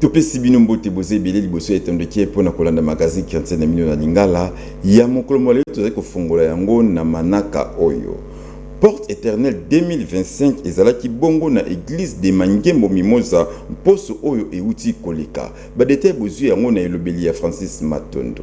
Topesi bino mbote boza ebele liboso ya etondokie mpo na kolanda magazine chrétien na bino na lingala ya mokolo mwa lelo. Tozali kofongola yango na manaka oyo porte éternelle 2025 ezalaki bongo na eglise de mangembo mimoza mposo oyo euti koleka. Badetail bozwi yango na elobeli ya Francis Matondo.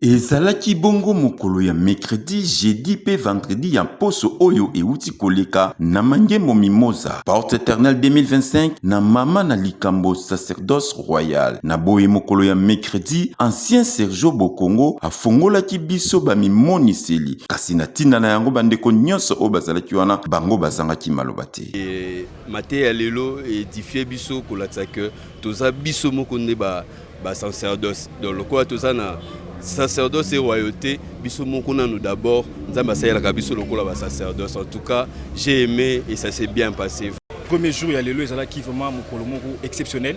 Ezalaki bongo mokolo ya mercredi, jeudi pe vendredi ya mposo oyo euti koleka na mangembo mimoza porte eternel 2025 na mama na likambo sacerdoce royal. Na boye mokolo ya mercredi, ancien Sergio Bokongo afongolaki biso bamimoniseli, kasi na ntina na yango bandeko nyonso oyo bazalaki wana bango bazangaki maloba te. E, mateya ya lelo edifie biso kolatisa ke toza biso moko nde ba ba sacerdoce donc lokola toza na sacerdoce royauté biso moko nanu d'abord nzambe asalelaka biso lokola ba sacerdoce en tout cas j'ai aimé et ça s'est bien passé premier jour ya lelo ezalaki vraiment mokolo moko exceptionnel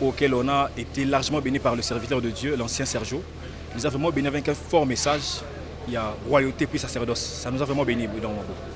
auquel on a été largement béni par le serviteur de Dieu l'ancien Sergio nous a vraiment béni avec un fort message il y a royauté puis sacerdoce ça nous a vraiment béni dans mon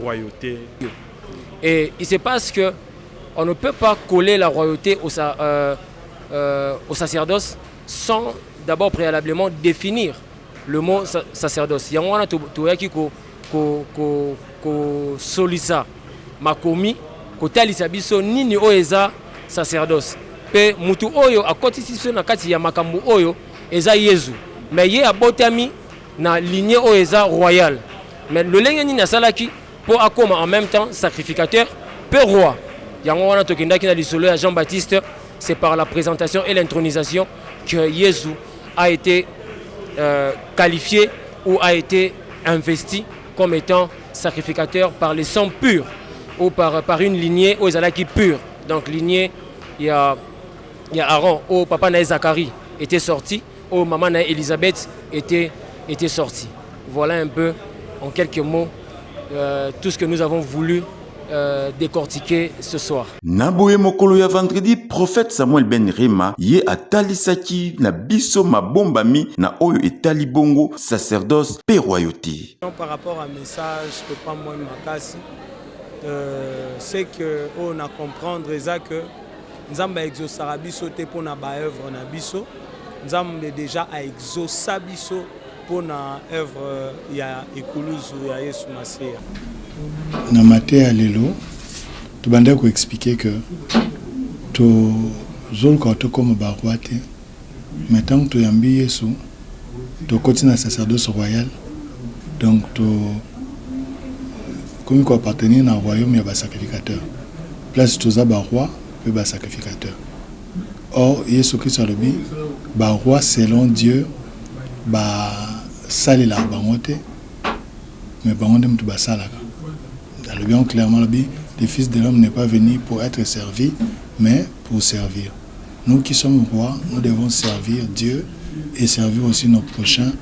royauté. Et il se passe que on ne peut pas coller la royauté au, euh, euh, au sacerdoce sans d'abord préalablement définir le mot sacerdoce. Il y a un qui toyaki ko ko ko ko solisa makomi ko talisa biso nini oyo eza sacerdoce. Pe mutu oyo akotisi biso na kati ya makambo oyo eza Yesu. Mais ye abotami na lignée oyo eza royal mais lolenge nini asalaki mpo akoma en même temps sacrificateur mpe roi yango wana tokendaki na lisolo ya jean baptiste c'est par la présentation et l'intronisation que yesu a été euh, qualifié ou a été investi comme étant sacrificateur par le sang pur ou par, par une lignée oyo ezalaki pure donc lignée ya, ya aaron oyo papa na ye zacharie était sorti Oyo mama na Elisabeth était, était sorti. Voilà un peu, en quelques mots, euh, tout ce que nous avons voulu euh, décortiquer ce soir. Na boye mokolo ya vendredi, prophète Samuel Ben Rema ye atalisaki na biso mabombami na oyo etali bongo sacerdoce pe royauté. Par rapport à message que pas moi makasi, euh, c'est que on a comprendre eza que Nzambe a exaucera biso te pona ba œuvre na biso. Nzambe deja a exauca biso pona œuvre ya ekuluzu ya Yesu Maseya. Na mate ya lelo tobandaki ko expliquer que tozoluka tokoma ba roi te. mais tangu toyambi yesu tokoti na sacerdoce royal donc to komi ko appartenir na royaume ya ba sacrificateur place toza ba roi pe ba sacrificateur or yesu christo alobi ba roi selon dieu ba salelaka bango te mais bango nde mutu basalaka alobi yango clairement alobi le fils de l'homme n'est pas venu pour être servi mais pour servir Nous qui sommes rois, nous devons servir Dieu et servir aussi nos prochains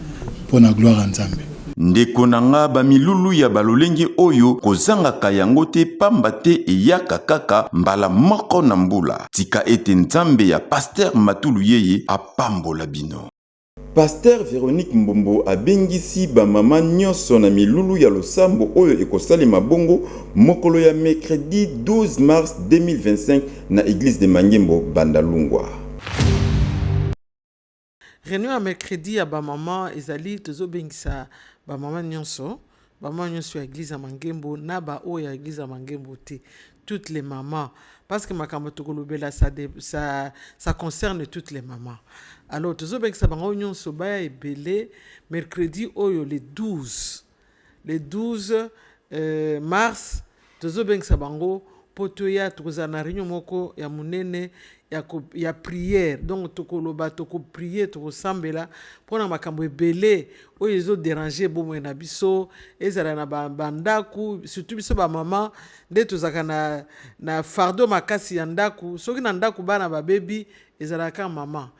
mpo na gloire ya Nzambe. Ndeko na nga, ba milulu ya ba lolenge oyo kozangaka yango te pamba te eyaka kaka mbala moko na mbula. Tika ete Nzambe ya Pasteur Matuluyeye apambola bino. Pastere Veronique Mbombo abengisi ba mama nionso na milulu ya losambo oyo ekosalema bongo mokolo ya mercredi 12 mars 2025 na eglise de Mangembo, Bandalungwa. Reunion ya mercredi ya ba mama ezali, tozobengisa ba mama nionso. Bamama nyonso ya eglise ya mangembo na ba oyo ya eglise ya mangembo te toutes les mamans parce que makambo tokolobela ça, ça, ça concerne toutes les mamans alors tozobekisa bango nyonso baya ebele mercredi oyo le 12 le 12 euh, mars Tozobengisa bango mpo toya tokozala na reunion moko ya monene ya, ko, ya priere donc tokoloba tokoprie tokosambela mpo na makambo ebele oyo ezoderange bomoi na biso ezala na bandako ba surtout biso bamama nde tozalaka na, na fardo makasi ya ndako soki na ndako bana babebi ezalaka mama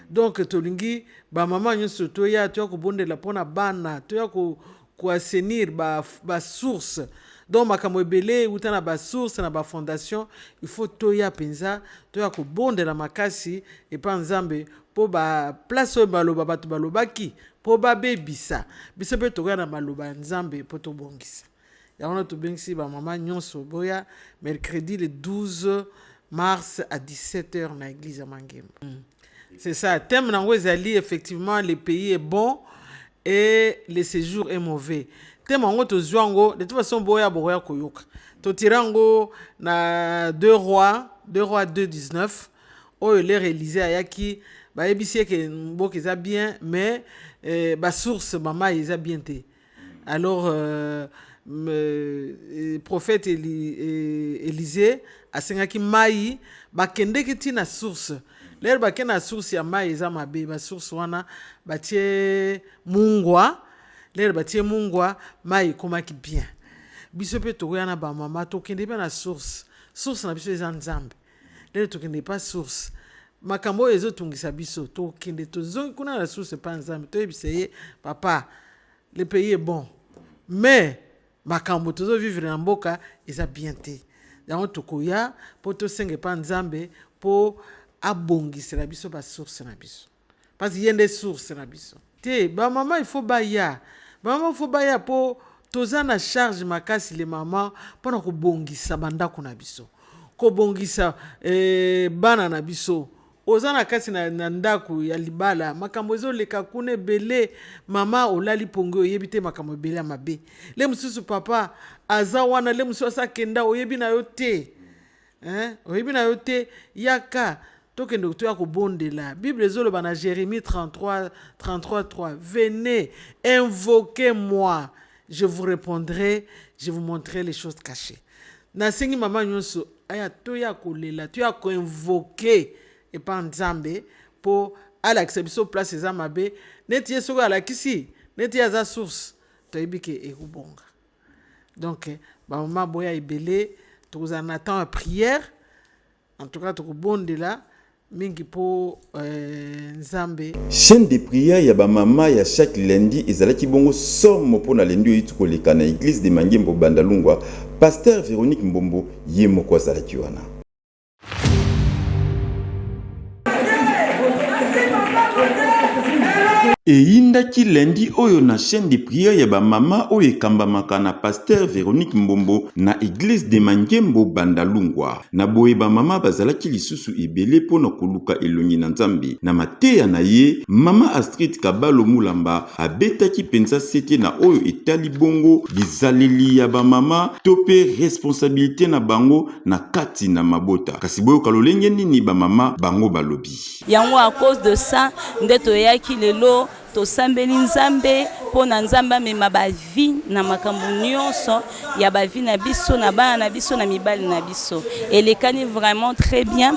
donc tolingi bamama nyonso toya toya kobondela mpo na bana toya ko ko assainir ba, ba source donc makambo ebele euta na basource na bafondation il faut toya mpenza toya kobondela makasi epa nzambe mpo baplace oyo baloba bato balobaki mpo babebisa biso mpe tokoya na maloba ya nzambe mpo tobongisa yango wana tobengisi bamama nyonso boya mercredi le 12 mars à 17 heures na église ya mangembo mm. C'est ça. Thème nango ezali effectivement le pays est bon et le séjour est mauvais. Thème yango tozwa yango de toute façon boya boya koyoka. Totira yango na deux rois, deux rois 219 oyo l'ère Élysée ayaki bayebisi ye ke mboka eza bien mais eh, ba source mama eza bien te. alors euh, euh, prophète Eli, euh, Élisée asengaki mai bakendeki ti na source lere bake na source ya mai eza mabe basource wana batie mungwa lere batie mungwa mai ekomaki bien biso mpe tokoya na bamama tokende mpe na source source na biso eza nzambe lelo tokende epa source makambo oyo ezotungisa biso tokende tozongi kuna na source epa nzambe toyebisa ye papa le pays est bon mais makambo tozovivre na mboka eza bien te yango tokoya mpo tosenga epa nzambe mpo abongisela biso basource na biso Pasi ye nde source na biso. Te ba maman il faut baya ba maman il faut baya po toza na charge makasi le maman pona kobongisa bandako na biso kobongisa eh, bana na biso oza na kati na, na ndako ya libala makambo ezoleka kuna ebele mama olali pongi oyebi te makambo ebele ya mabe le mosusu papa aza wana le mosusu asakenda oyebi na yo te Hein? Oyebi na yo te yaka tokende kotoya kobondela bible ezoloba na jérémie 33 33 3 venez invoquez moi je vous répondrai je vous montrerai les choses cachées nasengi mama nyonso aya toya kolela toya koinvoke epa nzambe mpo alakisa biso place eza mabe neti ye soki alakisi neti ye aza source toyebi ke ekobonga Donc, ba maman boya ebele, tokozala na temps ya prière. En tout cas, tokobondela mingi po euh, Nzambe. Chaîne de prière ya ba mama ya chaque lundi ezalaki bongo somo mpo na lundi oyiti koleka na eglise de Mangembo Bandalungwa, pasteur Veronique Mbombo ye moko azalaki wana. eyindaki lundi oyo na chaîne de prière ya bamama oyo ekambamaka na pasteur Véronique Mbombo na eglise de Mangembo Bandalungwa. Na boye bamama bazalaki lisusu ebele mpo na koluka elongi na Nzambe. Na mateya na ye, mama Astrid Kabalo Mulamba abetaki mpenza sete na oyo etali bongo bizaleli ya bamama to mpe responsabilite na bango na kati na mabota kasi boyoka lolenge nini bamama bango balobi yango a cause de ça nde toyaki lelo tosambeli nzambe mpo na nzambe amema bavi na makambo nyonso ya bavi na biso na bana na biso na mibali na biso elekani vraiment très bien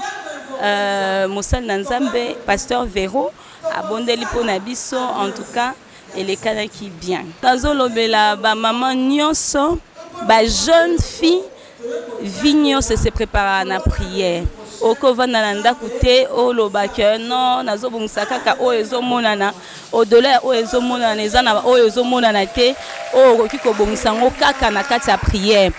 euh, mosali na nzambe pasteur vero abondeli mpo na biso en tout cas elekanaki bien nazolobela bamama nyonso ba jeune fille vi nyonso se prépara na prière okovanda na ndako te oloba ke non nazobongisa kaka oyo ezomonana odola ya oyo ezomonana eza na oyo ezomonana te oyo okoki kobongisa yango kaka na kati ya prière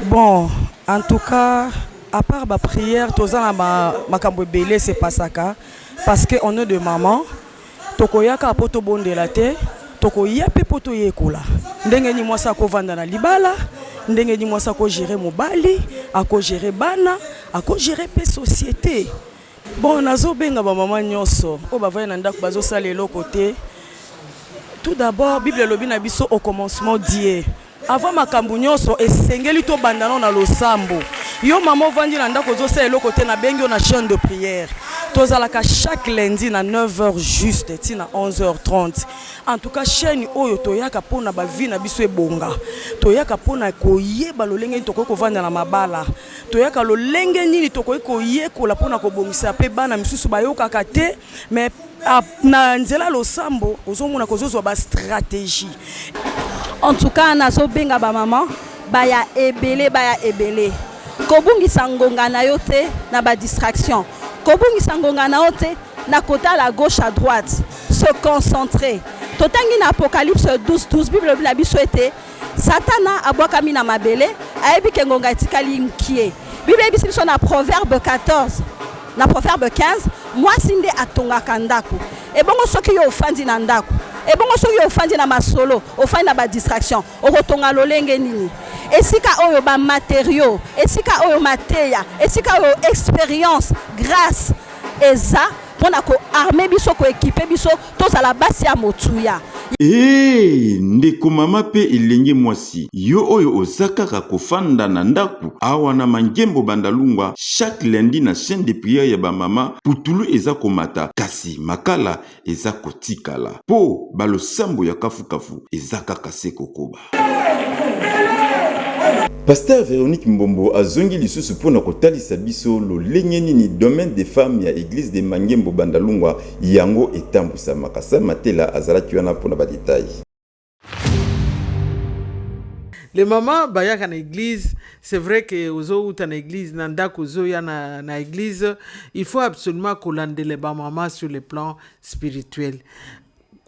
bon en tout cas à part baprière toza na makambo ebele sepasaka parce que on est de maman Tokoya kaka mpo tobondela te, tokoya mpe mpo toyekola ndenge nini mwasi ako vanda na libala, ndenge nini mwasi ako gerer mobali, ako gerer bana, ako gerer mpe societe. Bon nazo benga ba maman nionso oyo bavandi na ndako bazo sala eloko te, tout d'abord bible elobi na biso au commencement Dieu. Avant makambu nionso esengeli to banda nao na losambo. Yo maman ovandi na ndaku ozo sala eloko te na bengi yo na chaine de prière. Tozalaka chaque lundi na 9 heures juste ti na 11 heures 30. En tout cas chaine oyo toyaka pona ba vie na biso ebonga. Toyaka pona koyeba lolenge nini tokoki kovanda na mabala. Toyaka lolenge nini tokoki koyekola pona kobongisa pe bana misusu bayokaka te. mais ah, na nzela losambo ozomona kozozwa ba stratégie en tout cas nazobenga bamama baya ebele baya ebele kobungisa ngonga na yo te na badistraction kobungisa ngonga na yo te na kotala gauche à droite se concentrer totangi na apocalypse 12 12 bible elobi na biso ete Satana abwakami na mabele, ayebi ke ngonga etikali mkie. Biblia eyebisi biso na Proverbe 14 na Proverbe 15, mwasi nde atongaka ndako. Ebongo soki yo ofandi na ndako, ebongo soki yo ofandi na masolo, ofandi na ba distraction, okotonga lolenge nini? esika oyo ba matériaux, esika oyo mateya, esika oyo experience, grâce eza mpo na koarme biso koekipe biso tozala basi ya motuya Ee, ndeko mama pe elenge mwasi, yo oyo oza kaka kofanda na ndako awa na Mangembo Bandalungwa, chaque lundi na chaîne de prière ya ba mama, putulu eza komata kasi makala eza kotikala po ba losambo ya kafu kafu eza kaka se kokoba. Pasteur Veronique Mbombo azongi lisusu mpo na kotalisa biso lolenge nini domaine des femmes ya Eglise de Mangembo Bandalungwa yango etambusamaka. Sa Matela azalaki wana mpo na badetail. Les mamans bayaka na eglise, c'est vrai que ozowuta na eglise na ndako ozoya na, na eglise, il faut absolument kolandela ba maman sur le plan spirituel,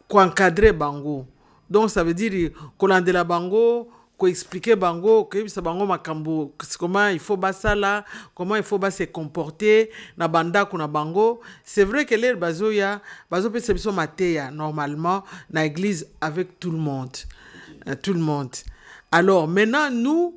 koencadre bango Donc ça veut dire kolandela bango koexplike bango koyebisa bango makambo comment il faut basala comment il faut ba se comporter na bandako na bango c'est vrai que lere bazoya bazopesa biso mateya normalement na église avec tout le monde euh, tout le monde alors maintenant nous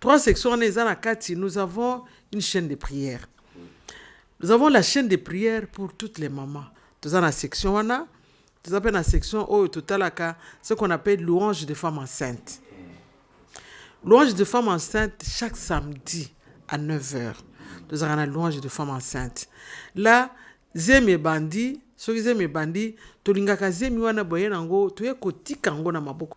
Trois sections wana eza na kati, nous avons une chaîne de prière. Nous avons la chaîne de prière pour toutes les mamans. Toza na section wana, toza pe na section oyo totalaka ce qu'on appelle louange de femmes enceintes. Louange de femmes enceintes chaque samedi à 9h. Tozaka na louange de femmes enceintes. Là, zemi ebandi, soki zemi ebandi, tolingaka zemi wana boye nango, toye kotika yango na maboko.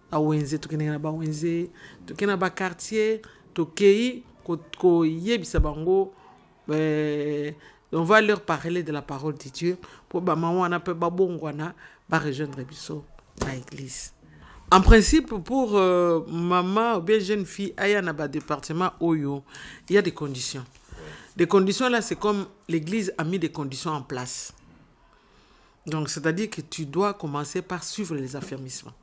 bawenze tokendeke na bawenze toke na bakartier tokei koyebisa ko bango eh, on va leur parler de la parole de dieu mpo bamama wana mpe babongwana barejoindre biso na église en principe pour euh, mama ou bien jeune fille aya na badepartement oyo il y a des conditions les conditions là c'est comme l'église a mis des conditions en place donc c'est à dire que tu dois commencer par suivre les affermissements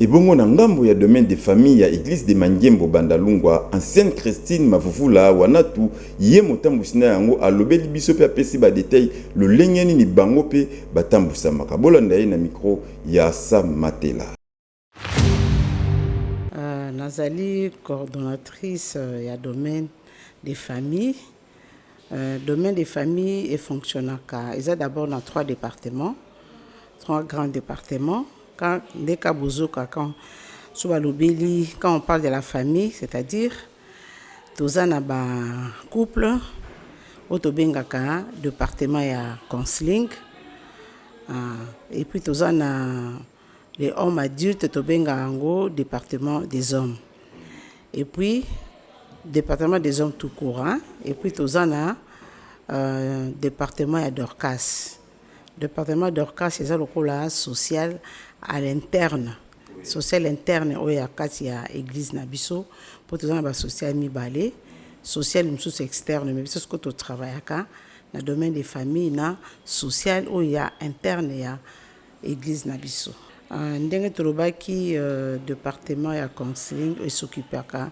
Ebongo na ngambo ya domaine de famille ya eglise de Mangembo Bandalungwa, ancienne Christine Mavuvula Wanatu, ye motambusi na yango alobeli biso pe apesi ba details lolenge nini bango pe batambusamaka. Bolanda ye na micro ya Sam Matela. Nazali coordonnatrice ya domaine de famille. Euh, domaine de famille et fonctionnaka eza d'abord dans trois départements trois grands départements quand nde ka bozoka quand so balobeli quand on parle de la famille c'est-à-dire toza na bacouple oyo tobengaka département ya counseling ah, et puis toza na Les hommes adultes tobenga yango département des hommes. Et puis département des hommes tout court hein? Et puis toza na euh, département ya Dorcas. Département Dorcas eza lokola social à l'interne. Social interne oyo ya kati ya église na biso mpo toza na ba social mibale social mosusu externe mais biso soko totravaillaka na domaine de famille na social oyo ya interne ya Eglise na biso. Uh, ndenge tolobaki uh, departement ya counseling esokipaka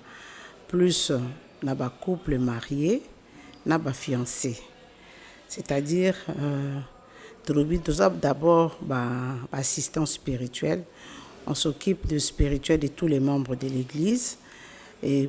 plus uh, na ba couple marie na ba fiancé c'est-à-dire uh, tolobi toza d'abord ba, ba assistant spirituel on s'occupe de spirituel de tous les membres de l'église et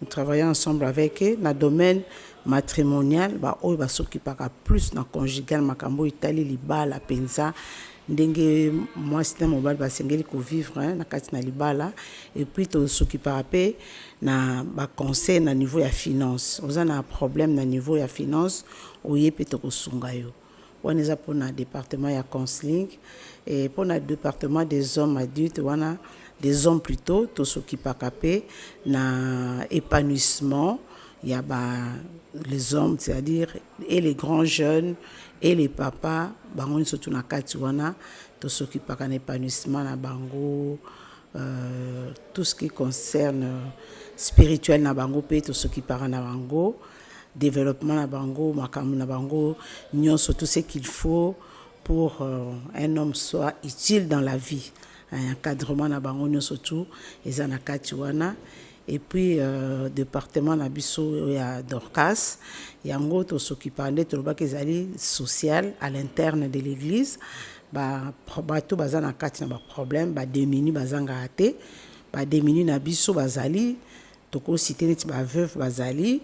Nous travaillons ensemble avec eux na domaine matrimonial ba oyo ba s'occupaka plus na conjugal makambo etali libala penza ndenge mwasi na mobali basengeli kovivre hein, na kati na libala et puis tosokipaka mpe na baconseil na niveau ya finance oza na problème na niveau ya finance oye mpe tokosunga yo wana eza pona departement ya counseling et pona departement des hommes adultes wana des hommes plutôt tosokipaka pe na épanouissement ya ba les hommes c'est-à-dire et les grands jeunes et les papas bango nso tu na kati wana tosokipaka na épanouissement na bango euh, tout ce qui concerne spirituel na bango pe tosokipaka na bango developpement na bango makambo na bango nyonso tout ce qu'il faut pour euh, un homme soit utile dans la vie hein, encadrement na bango nyonso tout eza na kati wana et puis euh, département na biso ya dorcas yango tosokipa nde tolobaki ezali social à l'interne de l'église bato baza na kati na baproblème bademini bazangaka te bademini na biso bazali Toko citer neti ba veuves bazali,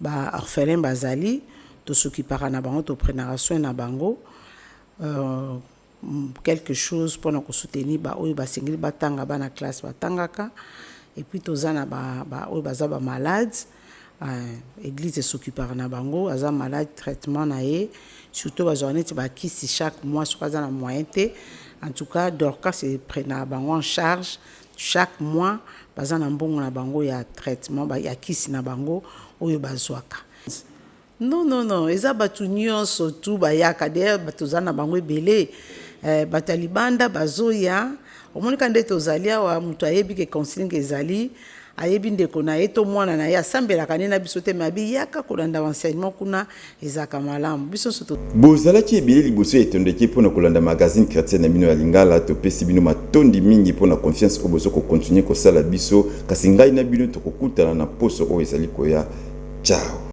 ba orphelins bazali, to s'occupaka na bango, to prenaka soin na bango. Quelque chose pona ko soutenir ba oyo basengeli batanga bana classe batangaka. Et puis toza na ba oyo baza ba malades, eglise e s'occupaka na bango, aza malade traitement na ye, surtout bazwaka neti ba kisi chaque mois soki aza na moyen te. En tout cas Dorcas e prenaka bango en charge. Chaque mois baza na mbongo na bango ya traitement ba ya kisi na bango oyo bazwaka. Non non non eza batu nionso tout bayaka d'ailleurs toza na bango ebele eh, bato ya libanda bazoya omonika nde tozali awa moto ayebi ke consigne ezali ayebi ndeko na ye to mwana na ye asambelaka nde na biso te me abiyaka kolanda enseignement kuna ezalaka malamu biso nso to bozalaki ebele liboso ya etondeki mpo na kolanda magazine chrétien na bino ya lingala topesi bino matondi mingi mpo na confiance oyo bozo kokontinue kosala biso kasi ngai na bino tokokutana na poso oyo ezali koya ciao